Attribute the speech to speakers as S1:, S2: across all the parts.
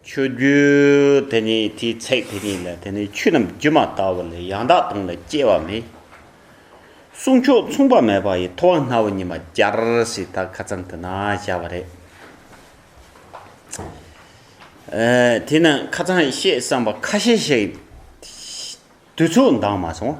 S1: ཆུ་རྒྱུན་དེ་ཉིད་དེའི་ཚེག་དེ་ཉིད་ལས་དེ་ནི་ཆུ་རྣམས་རྒྱུ་མ་ལྟ་བུ་ལས་ཡང་དག་སྟོང་ལས་སྐྱེ་བ་མེད། གསུང་མཆོག་མཚུངས་པ་མེད་པ་ཡི་ཐོག་སྣ་བུག་ཉི་མ་སྦྱར་ཞེས་ད་ག་ཚང་དུ་ན་བཞག་པ་རེད། དེས་ན་ཁ་ཚང་ཤེས་བསམ་པ་ཁ་ཤས་ཤིག་དུས་ཚོད་འདང་མ་སོང།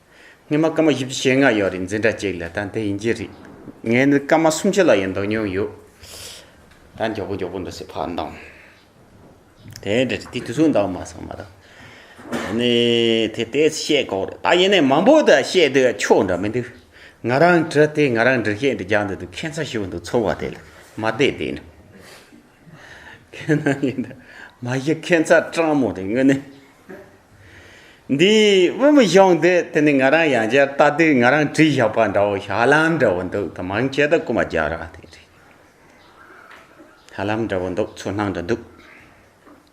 S1: ངས་མ་སྐར་མ་བཞི་བཅུ་ཞེ་ལྔ་ཡོད་རིག་འཛིན་གྲྭ་གཅིག་ལ་ད་འདི་ཡིན་གྱི་རེད། ངས་འདི་སྐར་མ་སུམ་ཅུ་ལ་ཡོད་མདོག་ཉུང་ཡོད། ད་མགྱོགས་པོ་མགྱོགས་པོ་འདུག་སེ་ཕར་འདང། དེ་འདྲ་རེད་དེ་དུས་ཚོད་འདང་མ་སོང་མ་གཏོགས། ད་ནི་དེ་ལྟས་བཤད་ཁོག་རེད་ད་ཡིན་ནའི་མང་པོ་དག་བཤད་དུས་ཆོག་འདྲ་མི་འདུག། ང་རང་གྲྭ་དེ་ང་རང་འདྲི་ཤེས་འདི་རྒྱག་འདོད་འདུག་ཁྱད་མཚར་ཞིག་འདུག་ཚོར་བ་དེ་ལས་མ་བསྡད་དེ་ནི། ཁྱེད་རྣམས་ཡིན་ཏེ། མ་གཞི་ཁྱེད་ཚ་སྤྲང་མོ་རེད་དངོས་གནས། འདིའི་དབུ་མི་གཞུང་འདི་དེ་ནི་ང་རང་ཡང་བསྐྱར་ལྟ་དུས་ང་རང་བྲིས་བཞག་པ་འདྲ་བོ་ཞྭ་ལམ་འདྲ་བོ་འདུག་དང་མང་ཆེ་ད་རྐུ་མ་རྒྱག་ར་དེ་རེད། ཞྭ་ལམ་འདྲ་བོ་འདུག་ཚུར་སྣང་འདྲ་འདུག།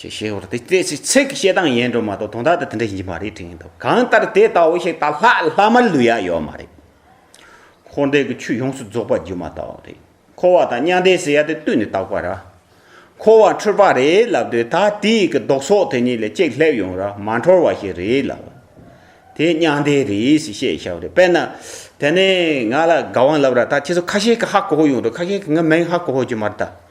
S1: ཅེས་བཤད་པར་དེ་ཚེ་ཚིག་གི་བཤད་སྟངས་ཡན་སྒྲོ་མ་གཏོགས་དོན་དག་དང་དེ་འདྲ་ཡིན་གྱི་མ་རེད་དྲན་གྱི་འདུག་གང་ལྟར་དེ་ལྟ་བུ་ཞིག་ད་ལྷག་ལྷག་མར་ལུས་ཡ་ཡོད་མ་རེད། འཁོར་འདས་ཀྱི་ཆོས་ཡོངས་སུ་རྫོགས་པ་སྒྱུ་མ་ལྟ་བུ་རེད། འཁོར་བ་དང་མྱང་འདས་ཟེར་ཡ་དེ་བཏུས་ནས་བརྟག་པ་ར། འཁོར་བ་འཁྲུལ་པ་རེད་ལབ་དུས་ད་ལྟའི་གི་ལྡོག་སོགས་དེ་གཉིས་ལས་གཅིག་སླེབས་ཡོང་ར་མ་འཁྲོལ་བ་ཞིག་རེད་ལབ། དེ་མྱང་འདས་རེད་ཞེས་བཤད་ཤ་བ་རེད་དཔེར་ན། དེ་ནས་ང་ལ་དགའ་དབང་ལབ་ར་ད་ཁྱེད་ཚོ་ཁ་ཤས་ཀྱིས་ཧ་གོ་ཧོ་ཡོང་འགྲོ་ཁ་ཤས་ཀྱིས་ང་མིན་ཧ་གོ་ཧོ་རྒྱུ་མ་རེད་ད།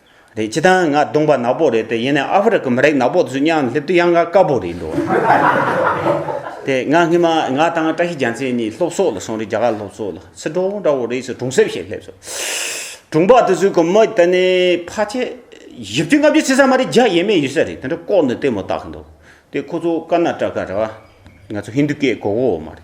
S1: རེད་ཅི་ད་ང་སྡོང་པ་ནག་པོ་རེད་དེ་ཡིན་ནའི་ཨ་ཧྥེ་རི་ཁའི་མི་རིགས་ནག་པོ་ཚོས་གཉའ་ལྷེབ་དུ་གཡང་ཁ་དཀར་པོ་རེད་འགྲོ་དེ་ང་སྔོན་མ་ང་དང་བཀྲ་ཤིས་རྒྱ་མཚན་གཉིས་སློབ་གསོ་ལ་སོང་རིགས་རྒྱ་གར་སློབ་གསོ་ལ་སི་ཏྲོ་འདྲ་བོ་རེད་ཟེར་གྲོང་གསེབ་ཞིག་སླེབས་སོང་གྲོང་པ་དེ་ཚོའི་གི་མི་དེ་ནི་ཕ་ཆེ་བཞི་བཅུ་ལྔ་བཅུ་བྱེད་ས་མ་རེད་བརྒྱ་ཡས་མས་ཡོད་ས་རེད་དེ་འདྲ་ལྐོག་ནས་ལྟད་མོ་བལྟ་གི་འདུག་དེ་ཁོ་ཚོ་ཀར་ན་ཏྲ་ཀ་རེད་བ་ང་ཚོ་ཧིན་དུ་ཀའི་གོ་གོ་མ་རེད་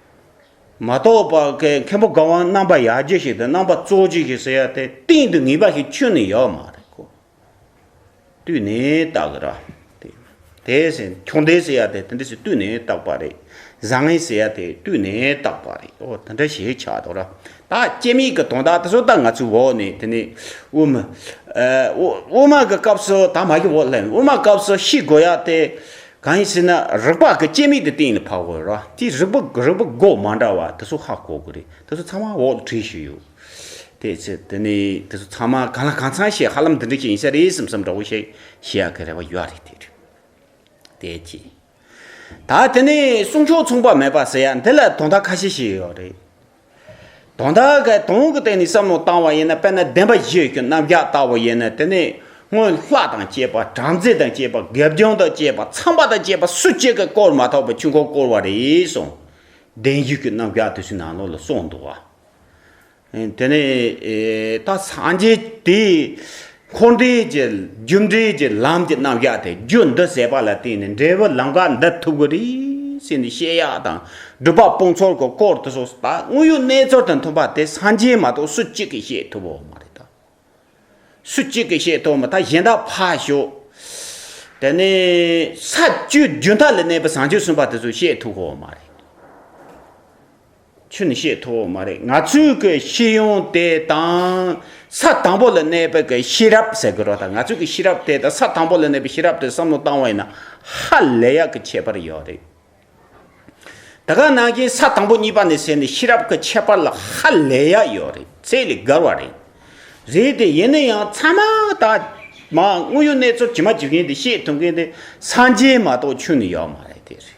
S1: མ་རྟོགས་པ་ཀའི་མཁན་པོ་དགའ་དབང་རྣམ་པ་ཡར་རྒྱས་ཞིག་དང་རྣམ་པ་གཙོ་གཅིག་ཞིག་ཟེར་ཡ་དེ་གཏིང་དུ་ངེས་པ་ཞིག་ཆུད་ནས་ཡོད་མ་རེད་ཀོ། བཏུས་ནས་བཏགས་གི་ར། དེ་ཟེར་ཁྱུང་ལྡེ་ཟེར་ཡ་དེ་དེ་འདྲ་ཞིག་བཏུས་ནས་བཏགས་པ་རེད། བཟང་ངན་ཟེར་ཡ་དེ་བཏུས་ནས་བཏགས་པ་རེད་ཨོ་དེ་འདྲ་ཞིག་ཆགས་འདུག་ར། ད་སྐྱེ་མེད་ཀྱི་དོན་དག་དེ་ཚོ་ད་ང་ཚོའི་འོག་ནས་དེ་ནས་དབུ་མ། དབུ་མ་གི་སྐབས་སུ་ད་མ་ཤི་འོག་ལྷས་འོ་མ་སྐབས་སུ་ཤི་དགོས་ཡ་དེ། གང་ཡིན་ཟེར་ན་རགས་པ་གི་སྐྱེད་མིག་དེ་སྟེང་ནས་ཕབ་དགོས་རོགས་དེ་རིགས་པ་རིགས་པ་སྒོ་མ་འདྲ་བ་དེ་ཚོ་ཧ་གོ་དགོས་རེད་དེ་ཚོ་ཚང་མ་འོག་ཏུ་བྲིས་ཤིག་ཡོད་དེ་ཚོས་དེ་ནི་དེ་ཚོ་ཚང་མ་གང་ལ་གང་ཚང་ཞིག་ཧ་ལམ་འདི་འདྲ་ཞིག་ཡིན་ས་རེད་སེམས་སམ་འདྲ་བོ་ཞིག་བྱེད་ཡག་གི་རེ་བ་ཡོད་རེད་དེ་རེད་དེ་གཅིག་ད་དེ་ནི་གསུང་ཆོས་མཚུངས་པ་མེད་པ་ཟེར་ཡ་འདི་ལ་དོན་དག་ཁ་ཤས་ཤིག་ཡོད་རེད། དང། ད་ག་དོན་གྱི་སྟེང་ནས་བསམ་བློ་བཏང་བ་ཡིན་ན་དཔེར་ན་བདེན་པ་བཞི་ཡོད་ཀྱི་རྣམ་གཞག་ལྟ་བུ་ཡིན་ན་དེ་ནས་སྔོན་ལྷ་དང་བཅས་པ་བྲམ་ཟེ་དང་བཅས་པ་དགེ་སྦྱོང་དང་བཅས་པ་ཚངས་པ་དང་བཅས་པ་སུ་གཅིག་གིས་བསྐོར་མ་ཐག་པའི་ཆུ་འགོ་བསྐོར་བ་རེད་གསུངས། བདེན་བཞི་ཀྱི་རྣམ་གཞག་དེ་ཚོའི་ནང་ལོགས་ལ་སོགས་འདུག་བ། དེ་ནས་ད་སངས་རྒྱས་དེས་འཁོར་འདས་ཀྱི་རྒྱུ་འབྲས་ཀྱི་ལམ་གྱི་རྣམ་གཞག་དེ་རྒྱུ་འདི་ཟད་པ་ལ་བརྟེན་ནས་འབྲས་བུ་ལམ་ཁ་འདི་ཐུག་གི་རེད་ཟེར་ནས་བཤད་ཡག་དང་སྒྲུབ་པ་སྤུངས་ཚོར་གྱི་སྐོར་དུ་སོགས་ད་དངོས་ཡོད་གནས་ཚོར་དང་མཐུན་པ་དེ་སངས་རྒྱས་མ་གཏོགས་སུ་གཅིག་གིས་བཤད་ཐུབ་བོ་མ་རེད་ད། སུ་གཅིག་གིས་བཤད་ཐུབ་མི་ཐ་གཞན་དག་ཕ་ཞོག་དེ་ནས་ས་བཅུའི་རྒྱུན་མཐའ་ལས་གནས་པའི་བཟང་སྤྱོད་གསུམ་པ་དེ་ཚོས་བཤད་ཐུབ་བོ་མ་རེད། ཁྱོད་ནི་ཤེས་ཐུབ་བོ་མ་རེད་ང་ཚོས་ཀྱི་ཤེས་ཡོན་དེ་དང་ས་དང་པོ་ལ་གནས་པའི་ཀྱི་ཤེས་རབ་ཟེར་དགོས་རོགས་དང་ང་ཚོས་ཀྱི་ཤེས་རབ་དེ་དང་ས་དང་པོ་ལ་གནས་པའི་ཤེས་རབ་དེ་བསམ་བློ་བཏང་བ་ཡིན་ན་ཧ་ལས་ཡག་གི་ཁྱད་པར་ཡོད་རེད་ད་ག་ནང་བཞིན་ས་དང་པོ་གཉིས་པ་ནས་ཟེར་ནས་ཤེས་རབ་ཀྱི་ཁྱད་པར་ལ་ཧ་ལས་ཡག་ཡོད་རེད་ཚད་ལས་བརྒལ་བ་རེད་རེད་དེ་ཡིན་ན་ཡང་ཚང་མ་ད་མ་དངོས་ཡོད་གནས་ཚུལ་ཇི་མ་ཇི་བཞིན་དེ་བཤད་ཐུབ་མཁན་དེ་སངས་རྒྱས་མ་གཏོགས་ཁྱོད་ནི་ཡོད་མ་རེད་དེ་རེད་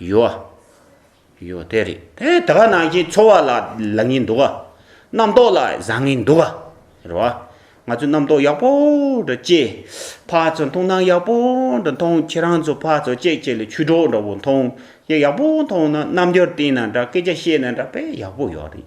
S1: ཡོ་བ། ཡོ་དེ་རེད་དེ་དེ་ག་ནང་བཞིན་འཚོ་བ་ལ་ལ་ངེས་འདུག་ག་རྣམ་རྟོག་ལ་བཟང་ངེས་འདུག་ག་རེད་བ། ང་ཚོས་རྣམ་རྟོག་ཡག་པོ་འདྲ་སྐྱེ། ཕ་ཚོ་མཐོང་སྣང་ཡག་པོ་འདྲ་མཐོང་ཁྱེད་རང་ཚོ་ཕ་ཚོ་སྐྱེས་སྐྱེས་ལ་ཆུ་གྲོགས་འདྲ་བོ་མཐོང་ཡག་པོ་མཐོང་ན་རྣམ་འགྱུར་བསྟན་ན་འདྲ་སྐད་ཆ་བཤད་ན་འདྲ་དཔེ་ཡག་པོ་ཡོད་རེད།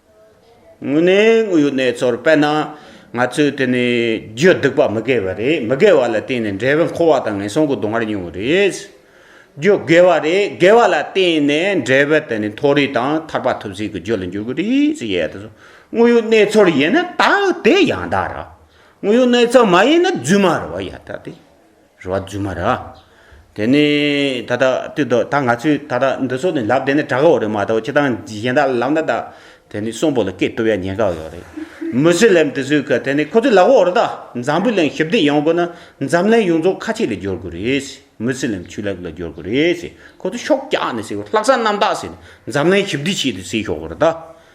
S1: དངོས་གནས་དངོས་ཡོད་གནས་ཚུལ་དཔེར་ན། ང་ཚོས་དེ་ནི་རྒྱུ་སྡིག་པ་མི་དགེ་བ་རེད་མི་དགེ་བ་ལ་བརྟེན་ནས་འབྲས་བུ་འཁོར་བ་དང་ངན་སོང་གི་སྡུག་བསྔལ་མྱོང་བ་རེད། རྒྱུ་དགེ་བ་རེད་དགེ་བ་ལ་བརྟེན་ནས་འབྲས་བུ་དེ་ནི་མཐོ་རིས་དང་ཐར་པ་ཐུབ་ཟིན་གྱི་རྒྱུ་ལ་འགྱུར་གྱི་རེད། དངོས་ཡོད་གནས་ཚུལ་ཡིན་ན་དག་དེ་ཡང་དག་རེད། དངོས་ཡོད་གནས་ཚུལ་མ་ཡིན་ན་རྫུན་མ་རེད་ཡང་དག་རེད། རོ་བ་རྫུན་མ་རེད། དེ་ནི་ད་ལྟ་ལྟོས་དོགས་ད་ང་ཚོས་ད་ལྟ་འདི་ཚོ་ནི་ལབ་བསྡད་ནི་དྲག་གོ་རེད་མ་གཏོགས་ཁྱེད་རང་གཞན་དག་ལབ་ན་ད་དེ་ནི་གསོན་པོ་ལ་སྐད་བཏུབ་ཡ་ཉན་ག་ཡོད་རེད། མི་ཚེ་ལེབ་འདི་ཚོས་གི་དེ་ནི་ཁོ་ཚོས་ལབ་གོ་རེད་ད་འཛམ་བུའི་གླིང་ཞི་བདེ་ཡོང་དགོས་ན་འཛམ་གླིང་ཡོངས་རྫོགས་ཁ་ཆད་ལ་སྦྱོར་དགོས་རེད། མི་ཚེ་ལེབ་ཆུ་ལེབ་ལ་སྦྱོར་དགོས་རེད། ཁོ་ཚོས་ཤོག་རྒྱག་ནི་ཟེར་གོ་ལྷག་བསམ་རྣམ་དག་ཟེར་ནི་འཛམ་གླིང་ཞི་བདེ་ཆེད་དུ་བསྲེས་ཤོག་གོ་རེད་ད།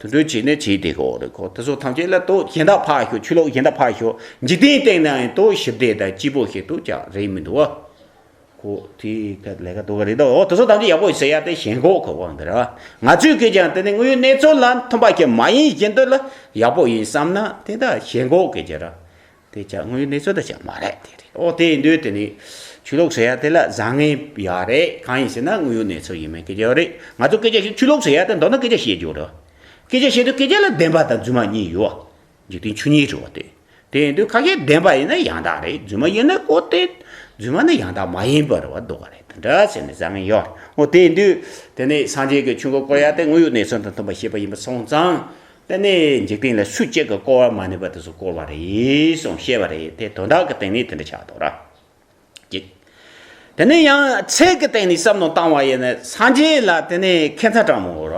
S1: དུད་འགྲོའི་བྱེད་ནི་བྱེད་དེ་ཀོ་རེ་ཀོ་དེ་སོགས་ཐམས་ཅད་ལ་དོ་གཞན་དག་འཕགས་ཤོག་ཆོས་ལོག་གཞན་དག་འཕགས་ཤོག་འཇིག་རྟེན་སྟེང་ན་ཡང་དོ་ཞི་བདེ་དང་སྐྱིད་པོ་ཞིག་ཏུ་ཀྱང་རེག་མི་འདུག་གོ། ཀོ་དེ་ཀ་ལས་ཀ་དོ་ཀ་རེ་དོ་དེ་སོགས་ཐམས་ཅད་ཡག་པོ་ཟེར་ཡག་དེ་ཞེན་ཁོག་ཁོག་པོ་འདི་ར་ང་ཚོས་ཀྱིས་ཀྱང་དེ་ནི་དངོས་ཡོད་གནས་ཚུལ་ལ་མཐུན་པ་ཞིག་མ་ཡིན་བཞིན་དུ་ལ་ཡག་པོ་ཡིན་བསམ་ན་དེ་དག་ཞེན་ཁོག་གིས་ཀྱི་ར་དེ་ཅང་དངོས་ཡོད་གནས་ཚུལ་དང་ཅང་མ་རེག་དེ་རེད། འོ་དེའི་འདོད་དེ་ནི། ཆོས་ལུགས་ཟེར་ཡ་དེ་ལ་བཟང་ངན་ཡོད་རེད། གང་ཡིན་ཟེར་ན་དངོས་ཡོད་གནས་ཚུལ་ཡིན་མིན་སྐད་ཆ་ཡོད་རེད། ང་ཚོ་སྐད་ཆ་བཤད་ཆོས་ལུགས་ཟེར་ཡ་དེ་མདོར་ན་སྐད་ཆ་བཤད་རྒྱུ་རེད། སྐད་ཆ་བཤད་དུས་སྐད་ཆ་ལ་བདེན་པ་དང་རྫུན་མ་གཉིས་ཡོད། འཇིག་རྟེན་ཆོས་ཉིད་རེད་བ་དེ། དེ་ཡིན་དུས་ཁ་ཤས་བདེན་པ་ཡིན་ན་ཡང་དག་རེད་རྫུན་མ་ཡིན་ན་གོ་དེ། རྫུན་མ་ནི་ཡང་དག་མ་ཡིན་པར་བ་འདོད་པ་རེད་དེ་འདྲ་བྱས་ནས་བཟང་ངན་ཡོད་རེད། འོ་དེ་ཡིན་དུས། དེ་ནི་སངས་རྒྱས་ཀྱི་ཆོས་འཁོར་བསྐོར་ཡ་དེ་དངོས་ཡོད་གནས་ཚུལ་དང་མཐུན་པ་བཤད་པ་ཡིན་པ་སོང་ཙང། པད་མའི་འཇིག་རྟེན་ལ་སུ་གཅིག་གིས་བསྐོར་བ་མ་ནུས་པ་དེ་སུ་བསྐོར་བ་རེད་གསུངས་བཤད་པ་རེད་དེ་དོན་དག་གི་སྟེང་ནས་དེ་འདྲ་ཆགས་འདུག་ར་གཅིག། དེ་ནས་ཡང་ཚད་ཀྱི་སྟེང་ནས་བསམ་མནོ་བཏང་བ་ཡིན་ན་སངས་རྒྱས་ལ་དེ་ནས་ཁེ་མཚར་དྲང་མོ་ར་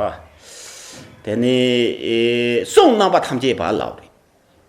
S1: དེ་ནས་གསུང་རྣམ་པ་ཐམས་ཅད་བར་ལགས་རེད།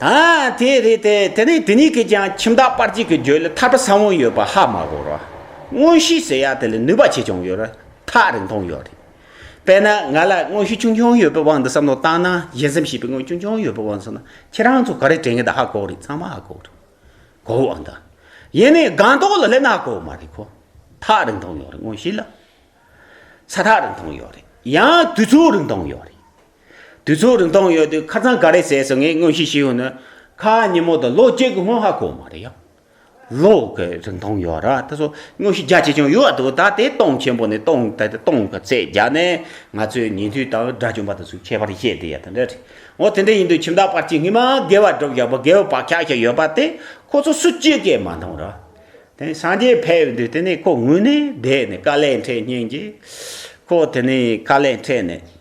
S1: ཨ་དེ་རེད་དེ་དེ་ནས་དེ་གཉིས་ཀྱིས་ཀྱང་ཁྱིམ་བདག་སྤར་གཅིག་གི་རྒྱུད་ལ་ཐར་པ་ས་བོན་ཡོད་པ་ཧ་མ་གོ་རོ། དངོས་གཞི་ཟེར་ཡག་དེ་ལ་ནུས་པ་ཆེ་ཆུང་ཡོད་རོ་ཐག་རིང་ཐུང་ཡོད་རེད། དཔེར་ན་ང་ལ་དངོས་གཞི་ཆུང་ཆུང་ཡོད་པའི་དབང་དུ་བསམ་བློ་བཏང་ན་ཞེ་སེམས་ཞེས་པའི་དངོས་ཆུང་ཆུང་ཡོད་པའི་དབང་དུ་བསམ་ན་ཁྱེད་རང་ཚོ་ག་རེ་དྲན་གི་འདུག་ཧ་གོ་རེད་ཚང་མ་ཧ་གོ་རེད། གོ་འོང་དང། ཡིན་ནའི་སྒང་ཏོག་ལ་སླེབས་ན་ཧ་གོ་མ་རེད་གོ། ཐག་རིང་ཐུང་ཡོད་རེད་དངོས་གཞི་ལ། ས་ཐག་རིང་ཐུང་ཡོད་རེད་ཡང་དུས་ཚོད་རིང་ཐུང་ཡོད་རེད། དུས་ཚོད་རིང་ཐུང་ཡོད་དུས་ཁ་ཚང་ག་རེ་ཟས་སུ་ངས་དངོས་གཞི་ཞུས་ཡོང་ནི། ཁ་ཉིན་མོ་དང་ལོ་གཅིག་གི་སྔོན་ཧ་གོ་མ་རེད་ཡ། ལོ་གི་རིང་ཐུང་ཡོད་ར་ད་གཟོད་དངོས་གཞི་རྒྱ་ཆེ་ཆུང་ཡོད་འདུག་ད་དེ་སྟོང་ཆེན་པོ་ནས་སྟོང་ད་དེ་སྟོང་གི་ཚད་བརྒྱ་ནས་ང་ཚོས་ཉིན་ཐོའི་དང་སྒྲ་གཅོམ་པ་དང་ཟུག་ཁྱད་པར་བཤད་དེ་ཡ་དེ་འདྲ་རེད། འོ་དེ་འདྲ་ཡིན་དུས་ཁྱིམ་བདག་པར་གྱི་ངེད་མ་དགེ་བ་སྒྲུབ་ཞག་པོ་དགེ་བའི་བག་ཆགས་ཤིག་ཡོད་པ་དེ་ཁོ་ཚོ་སུ་གཅིག་གིས་མ་མཐོང་ར། དེ་ནས་སངས་རྒྱས་ཕེབས་དུས་དེ་ནས་ཁོ་ངུས་ནས་བསྡད་ནས་དཀའ་ལས་འཕྲད་ཉིན་གྱིས། ཁོ་དེ་ནས་དཀའ་ལས་འཕྲད་ནས།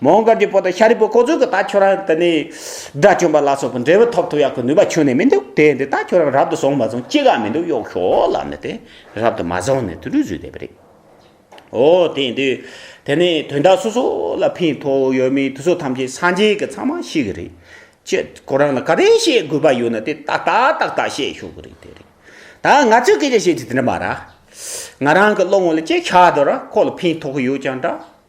S1: མོའོ་མཁར་གྱི་བུ་དང་ཤཱ་རིའི་བུ་ཁོ་ཚོས་ཀྱི་ད་ཁྱོད་རང་དེ་ནས་དགྲ་བཅོམ་པ་ལ་སོགས་པའི་འབྲས་བུ་ཐོབ་ཐུབ་ཡག་གི་ནུས་པ་ཁྱོན་ནས་མི་འདུག་དེ་འདི་ད་ཁྱོད་རང་རབ་ཏུ་བཟུང་མ་བཟུང་ཅི་ག་མི་འདུག་གཡོག་ཤོག་ལབ་ནས་དེ་རབ་ཏུ་མ་བཟུང་ནས་དུད་འགྲོའི་བཟོས་བསྡད་པ་རེད། ཨོ་དེ་འདི་དེ་ནས་དོན་དག་སོ་སོ་ལ་ཕན་ཐོགས་ཡོད་མེད་དུས་ཚོད་ཐམས་ཅད་སངས་རྒྱས་ཀྱི་ཚང་མ་ཤེས་གི་རེད། ཁྱེད་ཁོ་རང་ལ་ག་རེ་བཤད་དགོས་པ་ཡོད་ན་དེ་ཏག་ཏག་ཏག་ཏག་བཤད་ཤོག་གི་རེད་དེ་རེད། ད་ང་ཚོས་སྐད་ཆ་བཤད་རྒྱུ་དེ་འདྲ་མ་ར། ང་རང་གི་བློ་ངོ་ལ་ཅི་ཤ་དོ་ར་ཁོ་ལ་ཕན་ཐོགས་ཡོད་ཀྱང་འདྲ།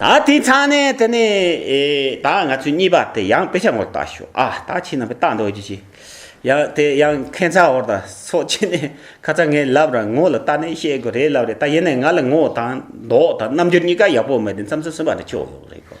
S1: ད་དེའི་ཚ་ནས་དེ་ནས་ད་ང་ཚོས་གཉིས་པ་དེ་ཡང་དཔེ་ཆ་ངོ་ལྟ་ཞོ་ཨ་ད་ཁྱེད་རྣམ་པས་ལྟ་འདོད་ཀྱི་ཞིག་ཡང་དེ་ཡང་མཁན་ཚ་བོར་དང་སོགས་ཁྱེད་ནས་ཁ་ཚ་ངས་ལབ་ར་ངོ་ལ་ལྟ་ནས་བཤད་དགོས་རེད་ལབ་རེད་ད་ཡིན་ནས་ང་ལ་ངོ་དང་མདོག་དང་རྣམ་འགྱུར་གཉིས་ཀ་ཡག་པོ་མེད་དེ་མཚམས་སུ་སུན་པ་དེ་ཆོག་ཡོང་རེད་གོ།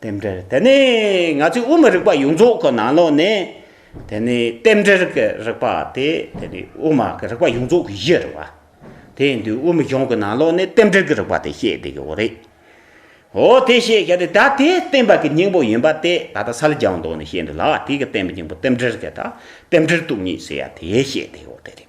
S1: རྟེན་འབྲེལ་དེ་ནི་ང་ཚོའི་དབུ་མ་རིག་པ་ཡོངས་རྫོགས་ཀྱི་ནང་ལོགས་ནས་དེ་ནི་རྟེན་འབྲེལ་གྱི་རིག་པ་དེ་དེ་ནི་དབུ་མ་གྱི་རིག་པ་ཡོངས་རྫོགས་ཀྱི་གཞི་རེད་བ། དེ་འདུས་དབུ་མ་གཞུང་གི་ནང་ལོགས་ནས་རྟེན་འབྲེལ་གྱི་རིག་པ་དེ་བཤད་བསྡད་ཀྱི་འོ་རེད། འོ་དེ་བཤད་བཞག་དེ་ད་དེ་བསྟན་པ་གྱི་སྙིང་པོ་ཡིན་པ་དེ་ད་ལྟ་ས་ལ་རྒྱ་བ་འདོགས་ནས་བཤད་འདུག་ལ་དེ་གི་བསྟན་པའི་སྙིང་པོ་རྟེན་འབྲེལ་དེ་དང་རྟེན་འབྲེལ་སྟུག་གཉིས་ཟེར་ཡ་དེ་བཤད་བསྡད་ཡོད་དེ་རེད།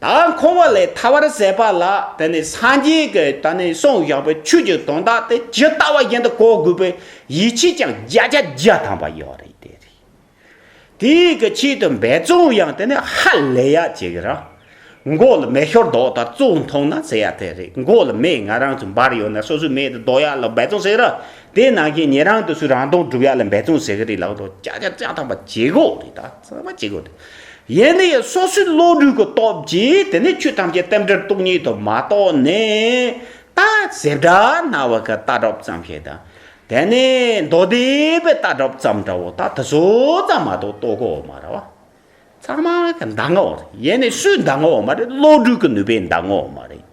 S1: ད་འཁོར་བ་ལས་ཐར་བར་ཟད་པ་ལ་དེ་ནི་སངས་རྒྱས་ཀྱི་ད་ནི་གསུང་བཞག་པའི་ཆོས་ཀྱི་དོན་དག་དེ་ཇི་ལྟ་བ་བཞིན་དུ་གོ་དགོས་པའི་ཡིད་ཆེས་ཀྱང་བརྒྱ་ཆ་བརྒྱ་ཐམ་པ་ཡོད་རེད་དེ་རེད། དེའི་གི་ཆེད་དུ་འབད་བརྩོན་ཡང་དེ་ནི་ཧ་ལས་ཡ་ཅིག་ར། མགོ་ལ་མེ་ཤོར་དོགས་དང་བཙོག་མཐོང་ན་ཟེར་ཡ་དེ་རེད་མགོ་ལ་མེ་ང་རང་ཚོ་འབར་ཡོད་ན་སོ་སོའི་མེ་དེ་བཟློག་ཡ་ལ་འབད་བརྩོན་བྱེད་ར་དེ་ནང་བཞིན་ཉེ་རང་དུ་སུ་རང་དོན་སྒྲུབ་ཡ་ལ་འབད་བརྩོན་བྱེད་གི་རེད་ལགས་དོགས་བརྒྱ་ཆ་བརྒྱ་ཐམ་པ་བྱེད་དགོས་རེད་ད། ཚང་མ་ཅི་དགོས་དེ། ཡེ་ནས་ཡང་སོ་སོའི་བློ་གྲོས་ཀྱི་སྟོབས་ཀྱིས་དེ་ནས་ཆོས་ཐམས་ཅད་རྟེན་འབྲེལ་སྟོང་ཉིད་དུ་མ་རྟོགས་ནས། ལྟ་ཟེར་སྒྲ་རྣ་བ་ཀའི་ལྟ་གྲུབ་ཙམ་ཞིག་དང། དེ་ནས་མདོ་སྡེ་པའི་ལྟ་གྲུབ་ཙམ་འདྲ་བོ་ད་དེ་ཚོ་ཙམ་མ་གཏོགས་རྟོགས་གོ་མ་ར་བ། ཚང་མ་གི་མདའ་ངོ་བ་རེད། ཡེ་ནས་སུའི་མདའ་ངོ་བ་མ་རེད་བློ་གྲོས་ཀྱི་ནུས་པའི་མདའ་ངོ་བ་མ་རེད།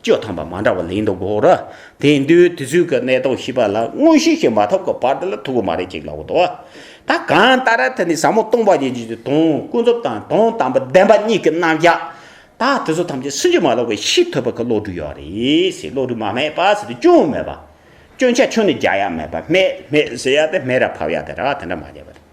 S1: སྤྱོད་དམ་པ་མ་འདྲ་བ་ལེན་དུ་དགོས་ར། དེ་འདུལ་དུས་ཚོད་ཀྱི་གནད་དོན་ཤེས་པ་ལ་དངོས་གཞི་ཞིག་མ་ཐོབ་ཀྱི་བར་དུ་ལ་ཐུག་གི་མ་རེད་ཅིག་ལབ་དགོས་དོ། ད་གང་ལྟར་ར་ཐི་ནི་ཟབ་མོ་སྟོང་པ་ཉིད་ཀྱི་དོན་ཀུན་རྫོབ་དང་དོན་དམ་པ་བདེན་པ་གཉིས་ཀྱི་རྣམ་གཞག་ད་དུས་ཚོད་ཐམས་ཅད་སུན་འབྱིན་མ་ལོག་པའི་ཤེས་ཐུབ་པ་གི་བློ་གྲོས་ཡོད་རེད་ཟེར་བློ་གྲོས་མ་སྨྲས་པ་ཟེར་དུས་ཅུང་སྨྲས་པ། སྐྱོན་ཆ་ཆུང་ནི་རྒྱག་ཡ་མེད་པ་སྨྲས་སྨྲས་ཟེར་ཡ་དེ་སྨྲས་ར་ཕབ་ཡ་དེ་ར་དེ་འདྲ་མ་བྱས་པ་རེད།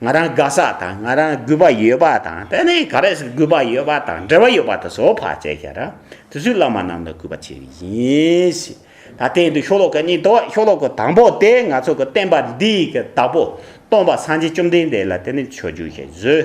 S1: ང་རང་དགའ་ས་དང་ང་རང་གུས་པ་ཡོད་པ་དང་དེ་ནས་ག་རེ་ཟེར་གུས་པ་ཡོད་པ་དང་འབྲེལ་བ་ཡོད་པ་དེ་ཚོ་བར་བཅད་བཞག་ར་དེ་ཚོས་བླ་མ་རྣམས་ལ་གུས་པ་བྱེད་རིགས་ཡིན། ད་ལྟའི་འདི་ཤོ་ལོ་ཀ་གཉིས་དོ་ཤོ་ལོ་ཀ་དང་པོ་དེ་ང་ཚོ་གི་བསྟན་པ་འདིའི་གི་བདག་པོ་སྟོང་པ་སངས་རྒྱས་བཅོམ་ལྡན་འདས་ལ་དེ་ནས་ཆོས་བརྒྱུད་ཞེས་བཟོས།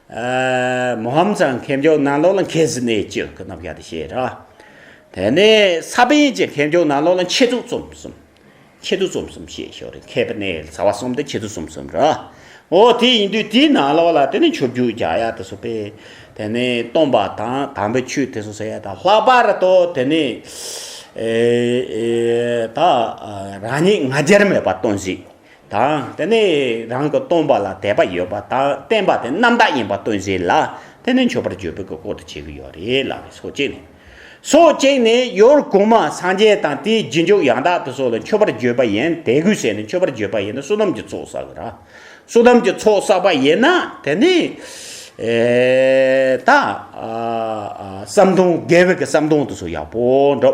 S1: མོ་ཧམ་ཚང་མཁས་མཆོག་ནང་ལོགས་ལ་མཁས་ཟི་ནས་ཅི་ཀི་ནམ་ཞག་དེ་བཤད་ར། དེ་ནས་ས་པན་གྱི་མཁས་མཆོག་ནང་ལོགས་ལ་མཆེད་དུ་རྩོམ་གསུམ། མཆེད་དུ་རྩོམ་གསུམ་བཤད་ཞོར་རེ་མཁས་པ་ནས་ཚ་བ་གསུམ་དེ་མཆེད་དུ་རྩོམ་གསུམ་ར། འོ་དེ་ཡིན་དུས་དེའི་ནང་ལོགས་ལ་དེ་ནས་ཆོས་བརྒྱུད་རྒྱ་ཡག་དེ་སོགས་པས་དེ་ནས་སྟོང་པ་དང་དམ་པའི་ཆོས་དེ་སོགས་ཟེར་ཡ་ད་ལྷག་པར་དུ་དེ་ནས་ད་རང་ཉིད་ང་རྒྱལ་མེད་པ་སྟོན་ཟིག། དང། དེ་ནས་རང་གི་སྟོང་པ་ལ་དད་པ་ཡོད་པ་དང་བརྟན་པ་དེ་རྣམ་དག་ཡིན་པ་སྟོན་བྱེད་ལ་དེ་ནི་མཆོད་པར་བརྗོད་པའི་གོ་དུ་བྱེད་ཀྱི་ཡོད་རེད་ལབ་པས་སོ་གཅིག་ནས། སོ་གཅིག་ནས་ཡོར་གུང་མ་སངས་རྒྱས་དང་དེའི་རྗེས་འཇུག་ཡང་དག་ཏུ་སོགས་ལ་མཆོད་པར་བརྗོད་པ་ཡིན་དད་གུས་བྱས་ནས་མཆོད་པར་བརྗོད་པ་ཡིན་ན་བསོད་ནམས་ཀྱི་ཚོགས་བསགས་ར། བསོད་ནམས་ཀྱི་ཚོགས་བསགས་པ་ཡིན་ན་དེ་ནི། ད། ཟམ་གདོང་རྒྱལ་བོད་ཀྱི་ཟམ་གདོང་དུ་སོགས་ཡག་པོ་འགྲོ།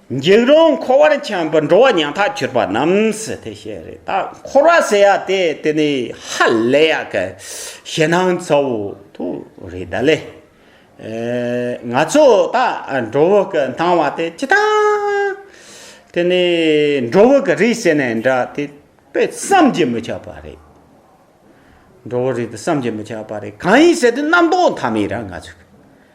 S1: འཇིགས་རུང་འཁོར་བར་འཁྱམས་པའི་འགྲོ་བ་ཉག་ཐག་གྱུར་པ་རྣམས་སུ་དེ་བཞིན་རེ་ད་འཁོར་བ་ཟེར་ཡ་དེ་དེ་ནི་ཧ་ལས་ཡག་གི་ཞེ་སྣང་གཙོ་བོ་དུ་རེ་ད་ལས། ང་ཚོ་ད་འགྲོ་བོ་གི་སྣང་བ་དེ་ཅི་ད་དེ་ནི་འགྲོ་བོ་གི་རིས་ཟེར་ནས་འདྲ་དེ་དཔེ་བསམ་གྱིས་མི་ཁྱབ་པ་རེད། འགྲོ་བོ་རིས་དེ་བསམ་གྱིས་མི་ཁྱབ་པ་རེད་གང་ཡིན་ཟེར་དུས་རྣམ་རྟོག་མཐའ་མེད་ར་ང་ཚོ་གི།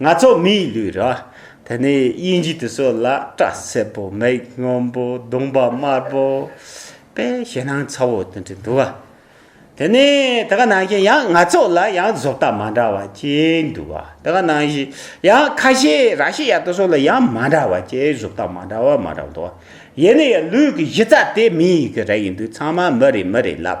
S1: ང་ཚོ་མིའི་ལུས་ར་དེ་ནི་དབྱིན་ཇི་དུ་སོ་ལ་སྐྲ་སེར་པོ་མིག་སྔོན་པོ་གདོང་པ་དམར་པོ་པའི་ཞེད་སྣང་ཚ་བོ་དེ་འདྲ་འདུག་ཨ། དེ་ནི་དེ་ག་ནང་བཞིན་ཡང་ང་ཚོ་ལ་ཡང་བཟོ་ལྟ་མ་འདྲ་བ་སྐྱེས་འདུག་ཨ། དེ་ག་ནང་བཞིན་ཡང་ཁ་ཤས་ར་ཤི་ཡ་དུ་སོ་ལ་ཡང་མ་འདྲ་བ་སྐྱེས་བཟོ་ལྟ་མ་འདྲ་བ་མ་འདྲ་འདུག་ཨ། ཡིན་ན་ཡང་ལུས་ཀྱི་གཞི་རྩ་དེ་མིའི་གི་ར་ཡིན་དུས་ཚང་མ་མི་རེ་མི་རེ་ལབ་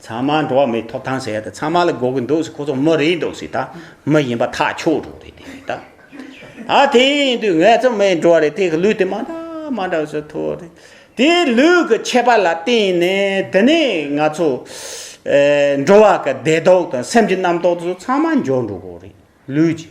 S1: ཚང་མ་འགྲོ་བ་མིའི་ཐོབ་ཐང་ཟེར་ཡ་ད་ཚང་མ་ལ་འགོག་གི་འདུག་ཟེར་ཁོ་ཚོ་མི་རེད་འདུག་ཟེར་ད་མི་ཡིན་པ་ཐག་ཆོད་འགྲོ་རེད་དེ་ཟེར་ད། ད་དེ་ཡིན་དུས་ངལ་རྩོལ་མི་ཡིན་འགྲོ་བ་རེད་དེ་གི་ལུས་དེ་མ་འདྲ་མ་འདྲ་ཟེར་ཐུག་རེད། དེ་ལུས་ཀྱི་ཁྱད་པར་ལ་བརྟེན་ནས་དེ་ནས་ང་ཚོ་འགྲོ་བ་ཀྱི་བདེ་སྡོག་དང་སེམས་ཀྱི་རྣམ་རྟོག་ཚང་མ་འབྱོར་འགྲོ་གི་རེད་ལུས་ཀྱི།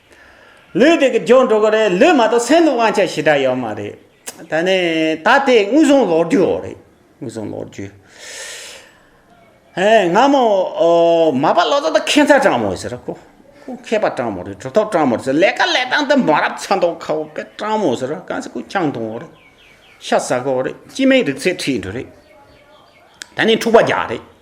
S1: ལུས་དེ་གི་འགྱོ་འགྲོ་གི་རེད་ལུས་མ་གཏོགས་སེམས་ལ་དབང་ཆ་ཞེ་དྲག་ཡོད་མ་རེད་ད་ནི་ད་དེ་དངོས་བཟུང་ལོག་རྒྱུ་ཡོད་རེད་དངོས་བཟུང་ལོག་རྒྱུ་ཧེ་ང་མོ་མ་པ་ལོ་ཙཱ་ད་ཁེན་ཚ་ཀྲང་མོ་ཟེར་ར་ཁོ་ཁོ་མཁས་པ་ཀྲང་མོ་རེད་གྲུ་ཐོག་ཀྲང་མོ་ཟེར་ལས་ཀ་ལས་སྟངས་དེ་མ་རབས་ཚ་མདོག་ཁ་བོ་དཔེ་ཀྲང་མོ་ཟེར་ར་གང་ཟེ་ཁོ་ཅང་ཏུང་བོ་རེད་ཤ་ཟ་གོ་རེད་སྤྱི་མེས་རིག་ཚད་ཁྲིད་འགྲོ་རེད་ད་ནི་འཁྲུག་པ་རྒྱག་རེད་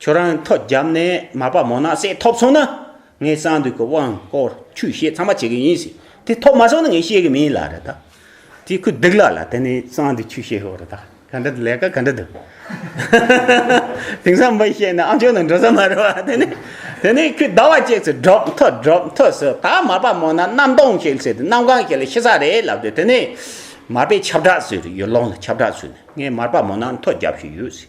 S1: ཁྱོད་རང་ཐོ་བརྒྱབ་ནས་མ་དཔའ་མོ་ནག་སེ་ཐོབ་སོང་ན་ངས་གསང་འདུས་ཀྱི་དབང་བསྐུར་ཆུ་བཤད་ཚང་མ་བྱེད་གི་ཡིན་ཟེར་དེ་ཐོབ་མ་སོང་ན་ངས་ཤེས་གི་མིན་ལབ་རེད་ད་དེ་ཁོས་སྡུག་ལབ་ལ་དེ་ནས་གསང་འདུས་ཆུ་བཤད་ཤོག་རེད་ད་ག་འདྲ་ལས་ཀ་ག་འདྲ་འདུག་དེང་སང་མི་བཤད་ན་ཨ་མཆོག་ནང་འགྲོ་ས་མ་རེད་བ་དེ་ནས་དེ་ནས་ཁོས་ཟླ་བ་གཅིག་ཚེ་སྒྲོག་ཐོ་སྒྲོག་ཐོ་ཟེར་ད་མ་དཔའ་མོ་ནག་གནམ་སྟོང་ཞིག་ཟེར་དེ་གནམ་གང་ཞིག་ལ་ཤི་ས་རེད་ལབ་དེ་དེ་ནས་མ་དཔེ་ཁྱབ་བསྒྲགས་ཟེར་ཡོད་ལོང་ལ་ཁྱབ་བསྒྲགས་ཟོས་ནས་ངས་མ་དཔའ་མོ་ནག་ཐོ་བརྒྱབ་ཤིག་ཡོད་ཟེར་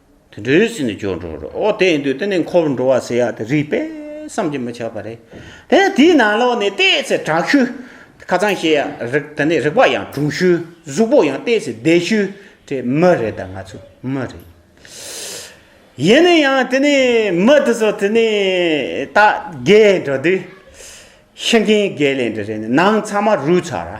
S1: དུད་འགྲོའི་སེམས་ནི་སྐྱོ་འགྲོ་རོ། འོ་དེ་ཡིན་དུས་དེ་ནི་འཁོར་བར་འགྲོ་བ་ཟེར་ཡ་དེ་རིགས་པས་བསམ་གྱིས་མི་ཁྱབ་པ་རེད། དེ་ནས་དེའི་ནང་ལོགས་ནས་ལྟས་ཚེ་དྲག་ཤུལ། ཁ་ཚང་ཞེས་ཡ་རིགས་དེ་ནི་རིགས་པ་ཡང་དྲུང་ཤུལ། གཟུགས་པོ་ཡང་ལྟས་ཚེ་བདེ་ཤུལ། དེ་མི་རེད་ད་ང་ཚོ་མི་རེད། ཡིན་ན་ཡང་དེ་ནི་མི་དེ་ཚོ་དེ་ནི་ད་རྒས་འགྲོ་དུས། ཤི་མཁན་རྒས་ལས་འདི་རེད་ནི་ནང་ཚང་མ་རུས་ཚར་ར།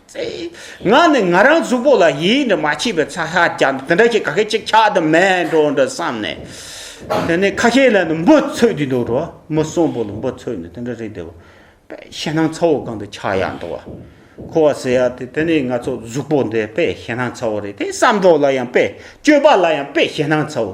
S1: ང་ནི་ང་རང་གཟུགས་པོ་ལ་ཡིད་འདི་མ་མཆིས་པའི་ཚ་ཤ་ཀྱང་འདི་འདྲ་ཞིག་ག་གེ་ཅིག་ཆགས་དུ་མེད་འགྲོ་འདྲ་བསམ་ནས་དེ་ནས་ཁ་ཤས་ལ་ནི་འབུ་ཚོད་འདི་འདུག་འགྲོ་མི་གསོན་པོ་ལ་འབུ་ཚོད་ནི་དེ་འདྲ་རེད་འདོད་པས་ཞེད་སྣང་ཚ་བོ་གང་དུ་ཆགས་ཡག་འདུག་བ་ཁོ་བ་ཟེར་ཡག་དེ་དེ་ནས་ང་ཚོ་གཟུགས་པོ་འདི་དཔེ་ཞེད་སྣང་ཚ་བོ་རེད་དེ་བསམ་གྲོགས་ལ་ཡང་དཔེ་སྤྱོད་པ་ལ་ཡང་དཔེ་ཞེད་སྣང་ཚ་བོ།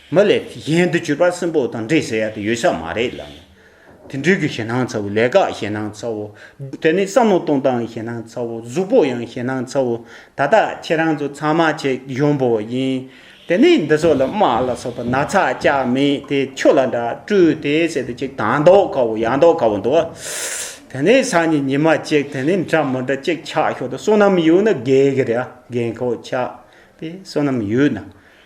S1: མི་ལས་གཞན་དུ་གྱུར་པ་སྲིན་པོ་དང་འདྲེ་ཟེར་ཡ་དེ་ཡོད་ས་མ་རེད་ལབ་ནས། དེ་འདྲུལ་གྱི་ཞེད་སྣང་ཚ་བོ་ལས་དགག་ཞེད་སྣང་ཚ་བོ། དེ་ནི་བསམ་བློ་གཏོང་སྟངས་ཞེད་སྣང་ཚ་བོ་གཟུགས་པོ་ཡང་ཞེད་སྣང་ཚ་བོ་ད་ལྟ་ཁྱེད་རང་ཚོ་ཚང་མ་ཆེ་གཞོན་པོ་ཡིན། དེ་ནས་འདི་ཚོ་ལ་དམག་ལ་སོགས་པ་ན་ཚ་སྐྱ་མེད་དེ་ཁྱོད་ལ་འདྲ་སྤྲུལ་དེ་ཟེར་དུ་གཅིག་དང་འདོག་དཀའ་བོ་ཡང་འདོག་དཀའ་བོ་འདུག་དེ་ནས་སང་ཉིན་ཉི་མ་གཅིག་དེ་ནས་འདྲ་མི་འདྲ་གཅིག་ཆགས་ཞོར་དུ་བསོད་ནམས་ཡོད་ན་རྒས་ཀྱི་རེད་རྒན་ཁོག་ཆགས་པས་བསོད་ནམས་ཡོད་ན།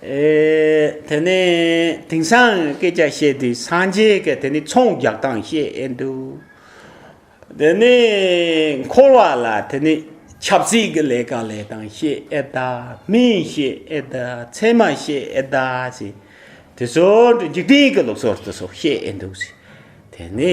S1: དེ་ནས་དེང་སང་སྐད་ཆ་བཤད་དུས་སངས་རྒྱས་ཀྱི་དེ་ནི་ཚོང་རྒྱག་སྟངས་བཤད་འདུག་དེ་ནི་འཁོར་བ་ལ་དེ་ནི་ཆབ་སྲིད་ཀྱི་ལས་ཀ་ལས་སྟངས་བཤད་ཨེ་གདའ་མི་བཤད་ཨེ་གདའ་ཚད་མ་བཤད་ཨེ་གདའ་ཞེས་དེ་ཚོ་འཇིག་རྟེན་གྱི་ལུགས་སྲོལ་དེ་ཚོ་བཤད་འདུག་དེ་ནི་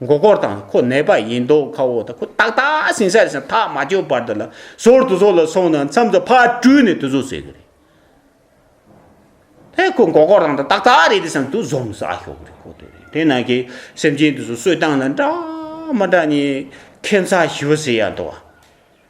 S1: མགོ་སྐོར་དང་ཁོ་ནད་པ་ཡིན་མདོག་ཁ་བོ་དང་ཁོ་ཏག་ཏག་ཟིང་ས་ཞིག་ཐག་མ་ཆོད་བར་དུ་ལ་ཟུར་དུ་ཟོག་ལ་སོང་ན་མཚམས་སུ་ཕར་བཀྲུས་ནས་དུ་བཟོ་ཟེར་གི་རེད། དེ་ཁོ་མགོ་སྐོར་དང་ཏག་ཏག་རེད་དེ་སང་དུ་བཟོ་མི་ཟ་ཤོག་གི་རེད་གོ་ཐོས་རེད་དེ་ན་གི་སེམས་ཅན་དུ་བཟོ་བསོད་སྟངས་ལ་འདྲ་མ་འདྲ་ནི་ཁེ་མཚར་ཞི་བ་ཟེར་ཡ་འདུག་བ།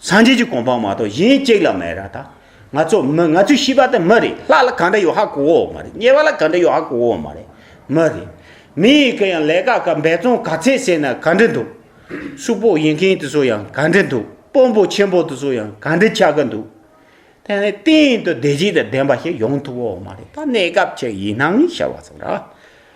S1: སངས་རྒྱས་ཀྱི་གོ་འཕང་མ་གཏོགས་གཞན་གཅིག་ལ་མེད་ར་ད། ང་ཚོ་མི་ང་ཚོས་ཤེས་པ་དེ་མི་རེད་ལྷ་ལ་གང་འདྲ་ཡོད་ཧ་གོ་འོ་མ་རེད་དམྱལ་བ་ལ་གང་འདྲ་ཡོད་ཧ་གོ་འོ་མ་རེད། མི་རེད། མི་ཡི་གེ་ཡང་ལས་ཀ་ག་འབད་བརྩོན་ག་ཚད་བྱས་ན་ག་འདྲ་འདུག། ཤུག་པོ་ཡིན་མཁན་དེ་ཚོ་ཡང་ག་འདྲ་འདུག་དཔོན་པོ་ཆེན་པོ་དེ་ཚོ་ཡང་ག་འདྲ་ཆགས་ཀྱི་འདུག། དེ་ནི་གཏན་དུ་བདེ་སྐྱིད་དང་ལྡན་པ་ཞིག་ཡོང་ཐུབ་འོ་མ་རེད་ད་གནས་སྐབས་ཅིག་ཡིན་སྣང་ཞེས་པ་ཚོ་ར།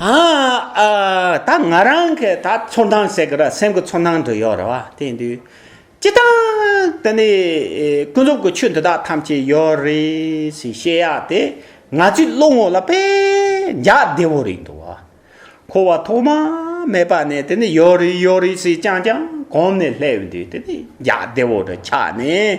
S1: ད་ང་རང་གི་ད་ཚོར་སྣང་ཟེར་གི་ར་སེམས་ཀྱི་ཚོར་སྣང་དུ་ཡོད་རེད་བ་དེ་འདུག་ཅི་དང་དེ་ནི་ཀུན་རྫོབ་ཀྱི་ཆོས་འདི་དག་ཐམས་ཅད་ཡོད་རེད་ཞེས་བཤད་ཡག་དེ་ང་ཚོའི་བློ་ངོ་ལ་པད་འཇགས་བདེ་བོ་རེད་འདུག་བ་འཁོར་བ་ཐོག་མ་མེད་པ་ནས་དེ་ནི་ཡོད་རེད་ཡོད་རེད་ཟེར་ཀྱང་ཀྱང་གོམས་ནས་སླེབས་འདུག་དེ་ནི་འཇགས་བདེ་བོ་དུ་ཆགས་ནས།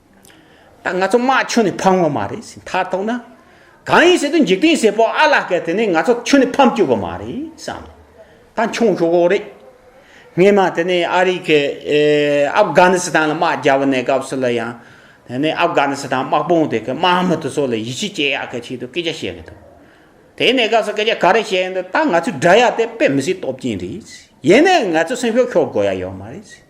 S1: ད་ང་ཚོ་དམག་ཁྱོན་ནས་ཕམ་ངོ་མ་རེད་ཟེར་མཐར་ཐོག་ན། གང་ཡིན་ཟེར་དུས་འཇིག་རྟེན་ཟེར་པོ་ཨ་ལ་སྐད་དེ་ནས་ང་ཚོ་ཁྱོན་ནས་ཕམ་བསྐྱོད་པ་མ་རེད་བསམ། ད་མཆོང་ཤོག་ཨོ་རེད། སྔས་མ་དེ་ནས་ཨ་རིག་གི་ཨབ་སྒཱ་ནི་སི་ཐན་ལ་དམག་རྒྱག་པ་ནས་སྐབས་སུ་ལ་ཡང། དེ་ནས་ཨབ་སྒཱ་ནི་སི་ཐན་དམག་དཔུང་དེ་གི་དམག་མི་དེ་ཚོ་ལ་ཡིད་ཆེས་སྐྱེ་ཡག་གི་ཆེད་དུ་སྐད་ཆ་བཤད་གི་འདུག་དེ་ནས་སྐབས་སུ་སྐད་ཆ་ག་རེ་བཤད་ཡོད་འདུག་ད་ང་ཚོའི་དགྲ་ཡག་དེ་དཔེ་མི་སྲིད་སྟོབས་ཅན་རེད། ཡིན་ན་ང་ཚོ་སེམས་ཤོག་ཤོག་དགོ་ཡག་ཡོད་མ་རེད།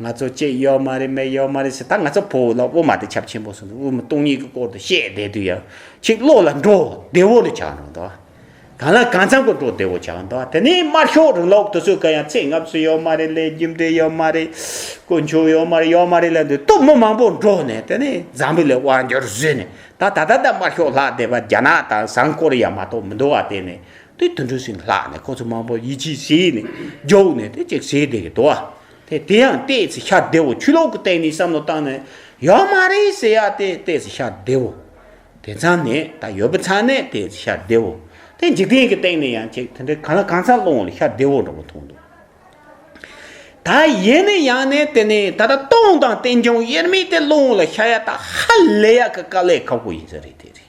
S1: ང་ཚོ་སྐྱེས་ཡོད་མ་རེད་མེད་ཡོད་མ་རེད་ཟེར་ད་ང་ཚོ་བོད་ལ་དབུ་མ་དེ་ཁྱབ་ཆེན་པོ་སོང་འདུག་དབུ་མ་སྟོང་ཉིད་ཀྱི་སྐོར་དུ་བཤད་བསྡད་དུས་ཡང་ཁྱེད་བློ་ལ་འགྲོ་བདེ་བོ་ལས་བྱ་འགྲོ་འདོད། གང་ལ་གང་འཚམ་གྱི་འགྲོ་བདེ་བོ་བྱ་འདོད་དེ་ནས་དམར་ཤོག་རིང་ལུགས་དེ་ཚོས་གང་ཡང་ཚེ་སྔ་ཕྱི་ཡོད་མ་རེད་ལས་རྒྱུ་འབྲས་ཡོད་མ་རེད་དཀོན་མཆོག་ཡོད་མ་རེད་ཡོད་མ་རེད་ལས་འདོད་སྟོབས་མི་མང་པོ་འགྲོ་ནས་དེ་ནས་འཛམ་བུ་ལས་དབང་འགྱུར་བཟོས་ནས་ད་ད་ད་ད་དམར་ཤོག་ལྷག་བསྡད་པ་རྒྱ་ནག་དང་བཟང་ཀོ་རི་ཡ་མ་གཏོགས་མི་འདུག་བ་དེ་ནས་དེ་དུད་འགྲོའི་སྲིན་ལག་ནས་ཁོ་ཚོ་མང་པོ་ཡིད་ཆེས་བྱས་ནས་རྒྱུགས་ནས་དེ་གཅིག་བྱས་དེ་འདུག་བ། དེ་དེ་ཡང་ལྟས་ཚེ་ཤར་བདེ་བོ་ཆུ་ལོག་གི་སྟེང་ནས་བསམ་བློ་བཏང་ནས་ཡོད་མ་རེད་ཟེར་ཡ་དེ་ལྟས་ཚེ་ཤར་བདེ་བོ། དེ་ཚང་ནས་ད་ཡོད་པ་ཚང་ནས་ལྟས་ཚེ་ཤར་བདེ་བོ། དེ་འཇིག་རྟེན་གྱི་སྟེང་ནས་ཡང་གཅིག་དེ་འདྲའི་གང་ལ་གང་འཚམ་སློང་ལ་ཤར་བདེ་བོ་འདྲ་བོ་མཐོང་འདུག། ད་ཡིན་ནས་ཡང་ནས་དེ་ནས་ད་ལྟ་སྟོང་དང་བསྟན་འབྱུང་དབྱེར་མེད་དེ་སློང་ལ་ཤར་ཡ་ད་ཧ་ལས་ཡག་གི་དཀའ་ལས་ཁག་པོ་ཡིན་ས་རེད་དེ་རེད།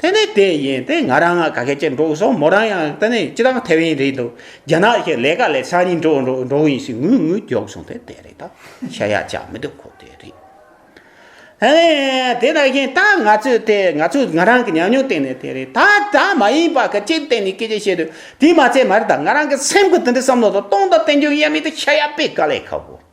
S1: དེ་ནི་དེ་ཡིན་ཏེ་ང་རང་ང་ག་གེ་ཅེས་འགྲོ་སོང་མོ་རང་ཡང་དེ་ནི་ཅི་དང་ཐེ་བན་རེད་འདུག་རྒྱ་ནག་གི་ལས་ཀ་ལས་སང་ཉིན་འགྲོ་འགྲོ་འགྲོ་ཡིན་ཞེས་ངུས་ངུས་རྒྱོགས་སོང་དེ་དེ་རེད་ད་ཤ་ཡག་ཅག་མི་འདུག་ཁོ་དེ་རེད། ཨ་ནི་དེ་ལྟར་ཡིན་ད་ང་ཚོས་དེ་ང་ཚོས་ང་རང་གི་ཉམས་མྱོང་སྟེང་ནས་དེ་རེད་ད་ད་མ་ཡིན་པ་ག་ཅིའི་སྟེང་ནས་སྐད་ཆ་བཤད་དུས་དེ་མ་ཚད་མར་ད་ང་རང་གི་སེམས་ཁུར་དེ་འདྲའི་བསམ་བློ་དང་སྟོང་དང་བསྟན་འགྱུར་ཡ་མེད་དུ་ཤ་ཡག་པའི་དཀའ་ལས་ཁ་བོ།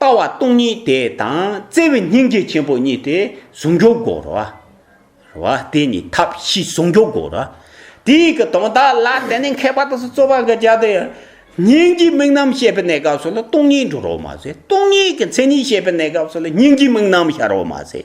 S1: ལྟ་བ་སྟོང་ཉིད་དེ་དང་བརྩེ་བའི་སྙིང་རྗེ་ཆེན་པོ་གཉིས་དེ་ཟུང་འཇུག་དགོས་རོ། རོ། དེ་གཉིས་ཐབས་ཤེས་ཟུང་འཇུག་དགོས་རོ། དེ་ཡི་གི་དོན་དག་ལ་བརྟེན་ནས་མཁས་པ་དག་སོ་སོ་བ་ག་རྒྱ་དེ། སྙིང་རྗེའི་དམིགས་རྣམ་བཤད་པའི་གནས་སྐབས་སུ་ལ་སྟོང་ཉིད་འགྲོ་རོ་མ་ཟད་སྟོང་ཉིད་ཀྱི་མཚན་ཉིད་བཤད་པའི་གནས་སྐབས་སུ་ལ་སྙིང་རྗེའི་དམིགས་རྣམ་ཤར་རོ་མ་ཟད།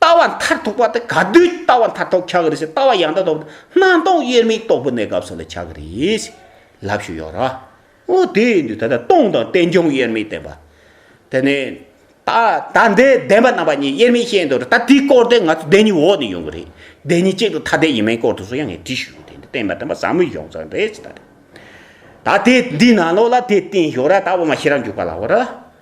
S1: ལྟ་བ་མཐར་ཐུག་པ་དེ་ག་དུས་ལྟ་བ་མཐར་ཐུག་ཆགས་ཀྱི་རེད་ཟེར་ལྟ་བ་ཡང་དག་ཐོབ་ན་སྣང་སྟོང་དབྱེར་མེད་རྟོགས་པའི་གནས་སྐབས་སུ་ལ་ཆགས་ཀྱི་རེད། ལབ་ཞུ་ཡོད་ར། ཨོ་དེས་འདུག་ད་ལྟ་སྟོང་དང་རྟེན་འབྱུང་དབྱེར་མེད་བསྟན་པ། དེ་ནས། ད་ལྟ་འདི་བདེན་པ་རྣམ་པ་གཉིས་དབྱེར་མེད་བཤད་འདུག་ར་ད་དེའི་སྐོར་དེ་ང་ཚོ་བདེན་གཉིས་འོག་ནས་ཡོང་གི་རེད། བདེན་གཉིས་གཅིག་ཏུ་ཐ་དད་ཡིན་མིན་སྐོར་དུ་སུ་ཡང་ངས་དྲིས་ཞུས་ཡོད་དེ་འདི་བསྟན་པ་བསྟན་པ་ཟབ་མོའི་གཞུང་ཚང་རེད་ཟེར་ད་རེད། ད་དེ་འདི་ནང་ལོགས་ལ་དེ་བསྟན་ཞོར་ར་ད་འོ་མ་ཤེས་རབ་འཇུག་པ་ལ་འོ་ར།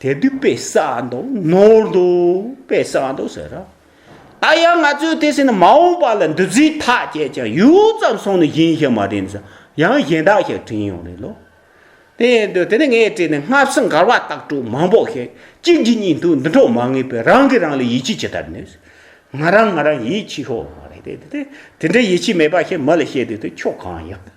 S1: དེ་དུས་དཔེ་ས་འདུག་ནོར་འདུག་དཔེ་ས་འདུག་ཟེར། ད་ཡང་ང་ཚོས་དེ་ཟེར་ན་མ་འོངས་པ་ལ་འདུ་འཛི་ཐག་བཅད་ཀྱང་ཡུད་ཙམ་སོང་ནས་གཞན་ཞིག་མ་དྲན་ཟིན་ཡང་གཞན་དག་ཞིག་དྲན་ཡོང་རེད་ལོ། དེ་ཡིན་དུས་དེ་ནས་ངས་བྲིས་ནས་སྔ་ཕྱི་འགལ་བ་ལྟག་སྤྲོད་མང་པོ་བཤད་གཅིག་གིས་གཉིས་འདུག་འདི་འཕྲོག་མ་ངེས་པས་རང་གིས་རང་ལ་ཡིད་ཆེས་ཇི་ལྟར་ནུས་ཟེར། ང་རང་ང་རང་ཡིད་ཆེས་ཤོར་བ་རེད་དེ། དེ་འདྲའི་ཡིད་ཆེས་མེད་པ་ཞིག་མི་ལ་བཤད་དུས་དེ་ཁྱོད་གང་ཡག།